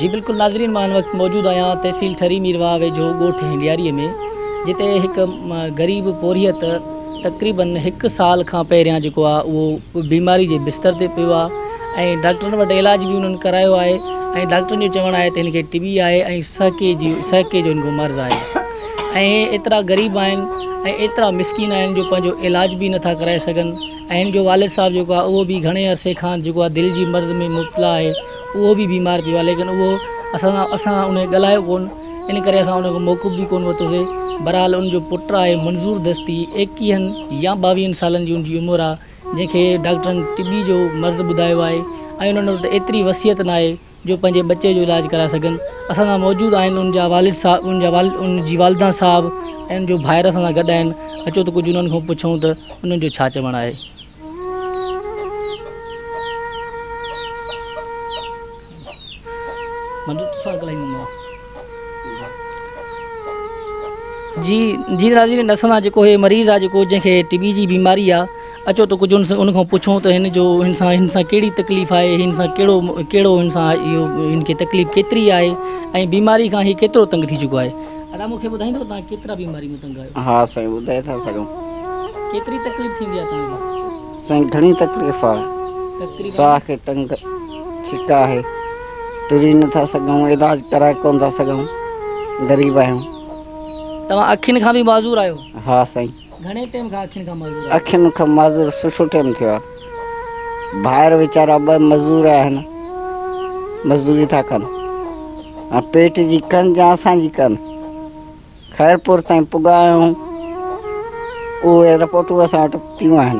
جي بلڪل ناظرين مان هن وقت موجود آهيان تحصيل ٺري ميرواهه ويجهو ڳوٺ هينڊياري ۾ جتي هڪ غريب پورهيت تقريبن هڪ سال کان پهريان جيڪو آهي اهو بيماري جي بستر تي پيو آهي ۽ ڊاڪٽرن وٽ علاج به انهن ڪرايو آهي ۽ ڊاڪٽرن جو چوڻ آهي ته هن کي ٽي بي آهي ۽ سهڪي جي سهڪي جو هن کي مرض آهي اهي ايترا غريب آهن ۽ ايترا مسڪين آهن جو پنهنجو علاج به نٿا ڪرائي سگهن ۽ هن جو والد صاحب جيڪو آهي اهو به گهڻي عرصي کان جيڪو آهي دل جي مرض ۾ مبتلا آهي اهو به بيمار پيو آهي ليڪن اهو اسان سان اسان سان ان ڳالهايو ڪون ان ڪري اسان ان کان موقف به ڪون ورتوسي بهرحال ان جو پٽ آهي منظور دستي ايڪيهن يا ٻاويهن سالن جي ان جي عمر آهي جنهن کي ڊاڪٽرن ٽي بي جو مرض ٻڌايو آهي ۽ انهن وٽ ايتري وصيت ناهي جو پنهنجي ٻچي جو علاج ڪرائي سگهن اسان سان موجود آهن ان جا والد صاحب ان جا والد ان جي والدينا صاحب ان جو ڀائر اسان سان گڏ آهن اچو ته ڪجهه انهن کان پڇون ته انهن جو ڇا چوڻ آهي جي جي ناظرين اسان سان جيڪو هي مريض آ جيڪو جنهن کي ٽي بي جي بيماري آ اچو ته ڪجهه ان کان پڇو ته هن جو هن سان هن سان ڪهڙي تڪليف آهي هن سان ڪهڙو ڪهڙو هن سان اهو هن کي تڪليف ڪيتري آهي ۽ بيماري کان هي ڪيترو تنگ ٿي چڪو آهي ادا مونکي ٻڌائيندو تان ڪيترا بيماري ۾ تنگ آهيو ها سائين ٻڌائي ٿا سگهون ڪيتري تڪليف ٿيندي آهي تان کي سائين گهڻي تڪليف آهي تڪليف ساهه کي تنگ ڇڪ آهي ٽري نٿا سگهون علاج ڪرائي ڪون ٿا سگهون غريب آهيون. توهان اکين کان به معذور آهيو؟ ها سائين. گهڻي ٽيم کان اکين کان معذور آهيو؟ اکين کان معذور سٺو ٽيم ٿيو آهي. ڀائر ويچارا ٻه مزور آهن مزوري ٿا ڪن ۽ پيٽ جي ڪن جا اسان جي ڪن خيرپور تائين پڳا آهيون اهي رپورٽون اسان وٽ پيون آهن.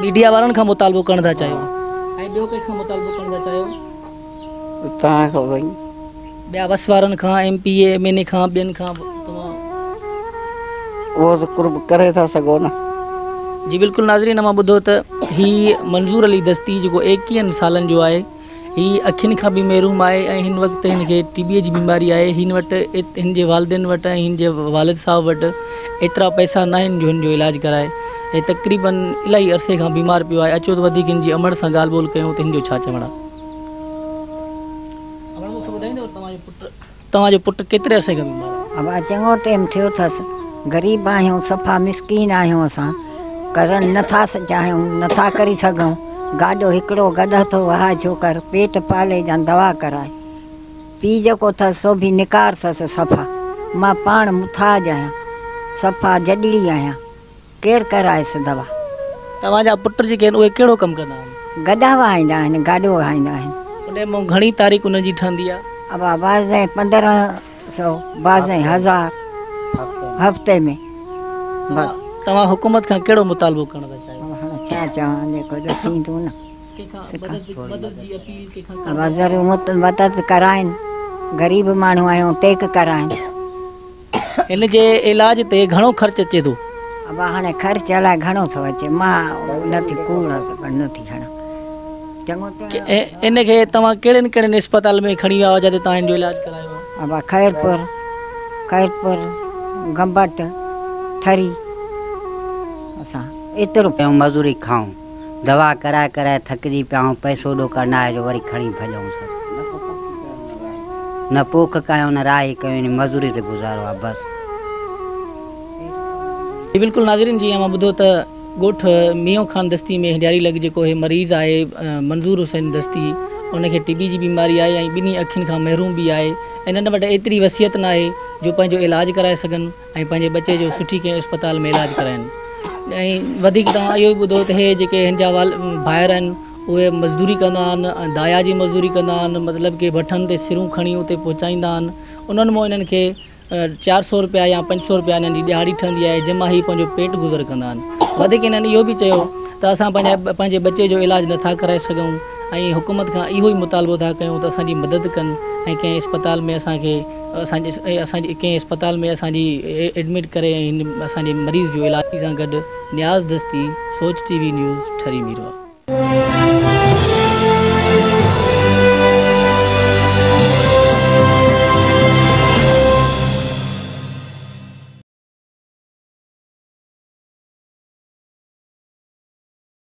ميڊيا وارن کان مطالبو ڪرڻ ٿا چاهيو ۽ ٻيو ڪنهن کان مطالبو ڪرڻ ٿا چاهيو توهان کان سائين ٻيا وس وارن کان M P A M N A کان ٻين کان توهان اهو ته قرب ڪري ٿا سگهو نه جي بلڪل ناظرين امان ٻڌو ته هي منظور علي دستي جيڪو ايڪيهن سالن جو آهي هي اکين کان به محروم آهي ۽ هن وقت هن کي ٽي بيء جي بيماري آهي. هن وٽ، هن جي والدين وٽ ۽ هن جي والد صاحب وٽ ايترا پئسا ناهن جو هن جو علاج ڪرائي. هي تقريباً الائي عرصي کان بيمار پيو آهي. اچو ته وڌيڪ هن جي امڙ سان ڳالهه ٻولهه ڪيون ته هن جو ڇا چوڻ آهي. امڙ مون کي ٻڌائيندؤ ته توهان جو پٽ. توهان جو پٽ ڪيتري عرصي کان بيمار آهي؟ ابا چڱو ٽيم ٿيو ٿس. غريب آهيون صفا مسڪين آهيون اسان ڪرڻ نه ٿا چاهيون نه ٿا ڪري سگهون گاڏو هڪڙو گڏ هٿو وهائي جوڪر پيٽ پالي جان دوا ڪرائي پي جيڪو ٿس سو به نڪار ٿس صفا مان پاڻ مٿاج آهيان صفا جڏڙي آهيان. ڪير ڪرائيس دوا؟ توهان جا پٽ جيڪي آهن اهي ڪهڙو ڪم ڪندا آهن؟ گڏا وهائيندا آهن، گاڏو وهائيندا آهن. اڏي مئو گهڻي تاريخ انهن جي ٺهندي آهي؟ ابا بعضين پندرهن سئو، بعضين هزار هفتي ۾. بس. توهان حڪومت کان ڪهڙو مطالبو ڪرڻ ٿا چاهيو؟ ابا هاڻي ڇا چوان جيڪو ڏسين ٿيون نه. ڪنهن کان مدد جي اپيل ڪنهن کان ڪرڻ ٿا چاهيو؟ ابا ضرور مدد ڪرائين، غريب ماڻهو آهيون ٽيڪ ڪرائين. هن جي علاج تي گهڻو خرچ اچي ٿو. ابا هاڻي خرچ الائي گهڻو ٿو اچي مان نه ٿي ڪوڙ پر نه ٿي هڻان چڱو ٿيو ۽ هن کي توهان ڪهڙين ڪهڙين اسپتال ۾ کڻي ويا هئا جتي توهان هن جو علاج ڪرايو هو؟ ابا خيرپور خيرپور گمبٽ ٿري اسان ايترو. ۽ مزوري کائون. دوا ڪرائي ڪرائي ٿڪجي پيا آهيون، پئسو ڏو ڪرناهه جو وري کڻي ڀڄئون سر. نه پوک ڪيون نه راهي ڪيون يعني مزوري تي گذارو آهي بس. جي بلڪل ناظرين جيئن اوهان ٻڌو ته ڳوٺ ميون خان دستي ۾ هنڊياري لڳ جيڪو هي مريض آهي منظور حسين دستي ان کي ٽي بي جي بيماري آهي ۽ ٻنهي اکين کان محروم به آهي ۽ انهن وٽ ايتري وصيت ناهي جو پنهنجو علاج ڪرائي سگهن ۽ پنهنجي ٻچي جو سٺي ڪنهن اسپتال ۾ علاج ڪرائين ۽ وڌيڪ توهان اهو به ٻڌو ته هي جيڪي هن جا ڀائر آهن اهي مزدوري ڪندا آهن دايا جي مزدوري ڪندا آهن مطلب ڪي بٺن تي سرون کڻي اتي پهچائيندا آهن انهن مون انهن کي چار سو روپيا يا پنج سو روپيا انهن جي ڏهاڙي ٺهندي آهي جنهن مان هي پنهنجو پيٽ گذر ڪندا آهن وڌيڪ انهن اهو به چيو ته اسان پنهنجا پنهنجي ٻچي جو علاج نٿا ڪرائي سگهون ۽ حڪومت کان اهو ئي مطالبو ٿا ڪيون ته اسان جي مدد ڪن ۽ ڪنهن اسپتال ۾ اسان کي اسان جي ڪنهن اسپتال ۾ اسان جي ايڊمٽ ڪري ۽ هن اسان جي مريض جو علاج ڪري سان گڏ نياز دستي سوچ T V news Thari Mirwah.